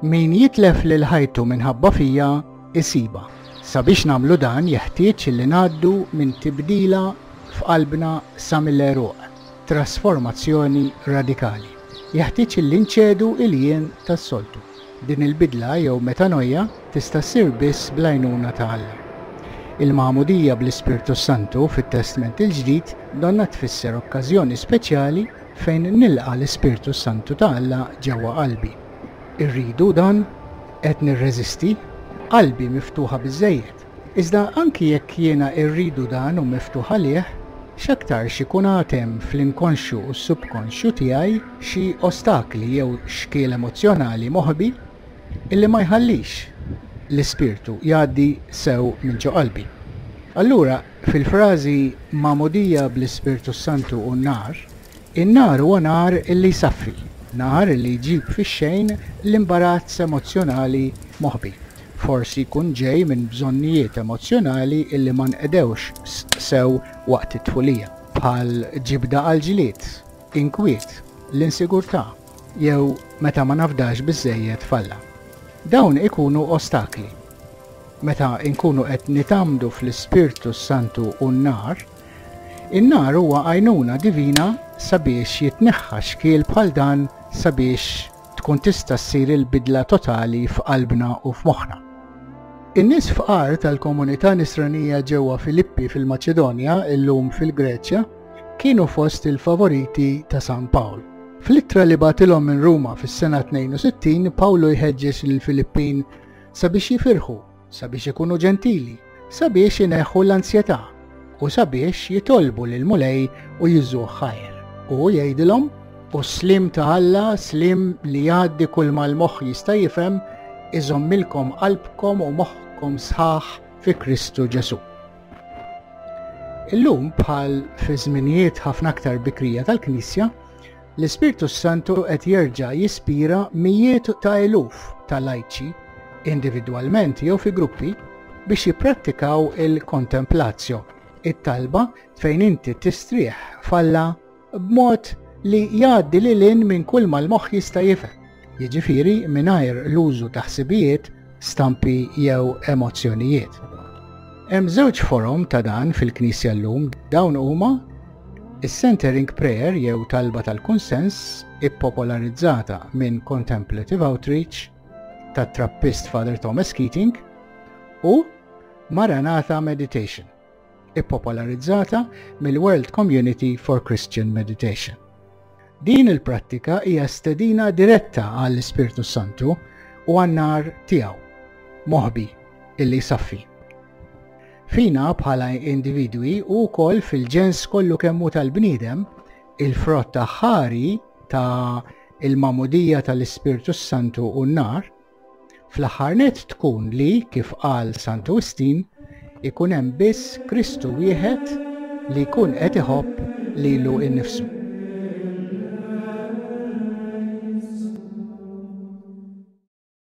Min jitlef lil ħajtu minħabba fija isiba. Sabiex namlu dan jeħtieġ li ngħaddu minn tibdila f'qalbna sa mill-eruq, trasformazzjoni radikali. Jeħtieġ li nċedu il-jien tas-soltu. Din il-bidla jew metanoia tista' ssir biss bl-għajnuna ta' Alla. Il-Magħmudija bl-Ispirtu s-Santu fit-Testment il-Ġdid donnha tfisser okkażjoni speċjali fejn nilqa' l-Ispirtu s-Santu ta' Alla ġewwa qalbi. Irridu dan? Qed nirreżisti? Qalbi miftuħa biżżejjed? Iżda anki jekk jiena rridu dan u miftuħ għalih, x'aktarx ikun għad hemm fl-inkonxju u s-subkonxju tiegħi xi ostakli jew xkiel emozzjonali moħbi illi ma jħallix l-Ispirtu jgħaddi sew minn ġo qalbi. Allura, fil-frażi magħmudija bl-Ispirtu s-Santu u n-nar, In-nar huwa nar li jsaffri, nar li jġib fix-xejn l-imbarazz emozzjonali moħbi. Forsi jkun ġej minn bżonnijiet emozzjonali li ma nqedewx sew waqt it-tfulija, bħal ġibda għall-ġlied, inkwiet, l-insigurtà, jew meta ma nafdax biżżejjed f'Alla. Dawn ikunu ostakli. Meta nkunu qed nitgħammdu fl-Ispirtu s-Santu u n-nar, In-nar huwa għajnuna divina sabiex jitneħħa xkiel bħal dan sabiex tkun tista' ssir il-bidla totali f'qalbna u f'moħħna. In-nies fqar tal-komunità Nisranija ġewwa Filippi fil-Maċedonja, illum fil-Greċja, kienu fost il-favoriti ta' San Pawl. Fl-ittra li bagħtilhom minn Ruma fis-sena 62, Pawlu jħeġġeġ lill-Filippin sabiex jifirħu sabiex ikunu ġentili, sabiex ineħħu l-ansjetà u sabiex jitolbu lil Mulej u jiżuh ħajr. U jgħidilhom, u s-slim ta' Alla, slim li jgħaddi kull ma l-moħħ jista' jifhem, iżommilkom qalbkom u moħħkom sħaħ fi Kristu Ġesù. Illum bħal fi żminijiet ħafna aktar bikrija tal-Knisja, L-Ispirtu s-Santu qed jerġa' jispira mijiet ta' eluf ta' lajċi, individwalment jew fi gruppi, biex jipprattikaw il-Contemplatio, it-talba fejn inti tistrieħ f'Alla b'mod li jgħaddi lil hinn minn kulma l-moħħ jista' jifhem. jiġifieri mingħajr l-użu ta' ħsibijiet, stampi jew emozzjonijiet. Hemm żewġ forom ta' dan fil-Knisja llum, dawn huma is-centering prayer jew talba tal-kunsens ippopolarizzata minn Contemplative Outreach tat-Trappist Father Thomas Keating u Maranatha Meditation. ippopolarizzata mill-World Community for Christian Meditation. Din il-prattika hija stedina diretta għall-Ispirtu Santu u għan-nar tiegħu, moħbi, illi jsaffi. Fina bħala individwi u wkoll fil-ġens kollu kemmu tal-bniedem, il-frott ħari ta' il-mamudija tal-Ispirtu Santu u n-nar Fl-aħħar nett tkun li, kif qal Santu Wistin, ikun hemm biss Kristu wieħed li jkun qed iħobb lilu nnifsu.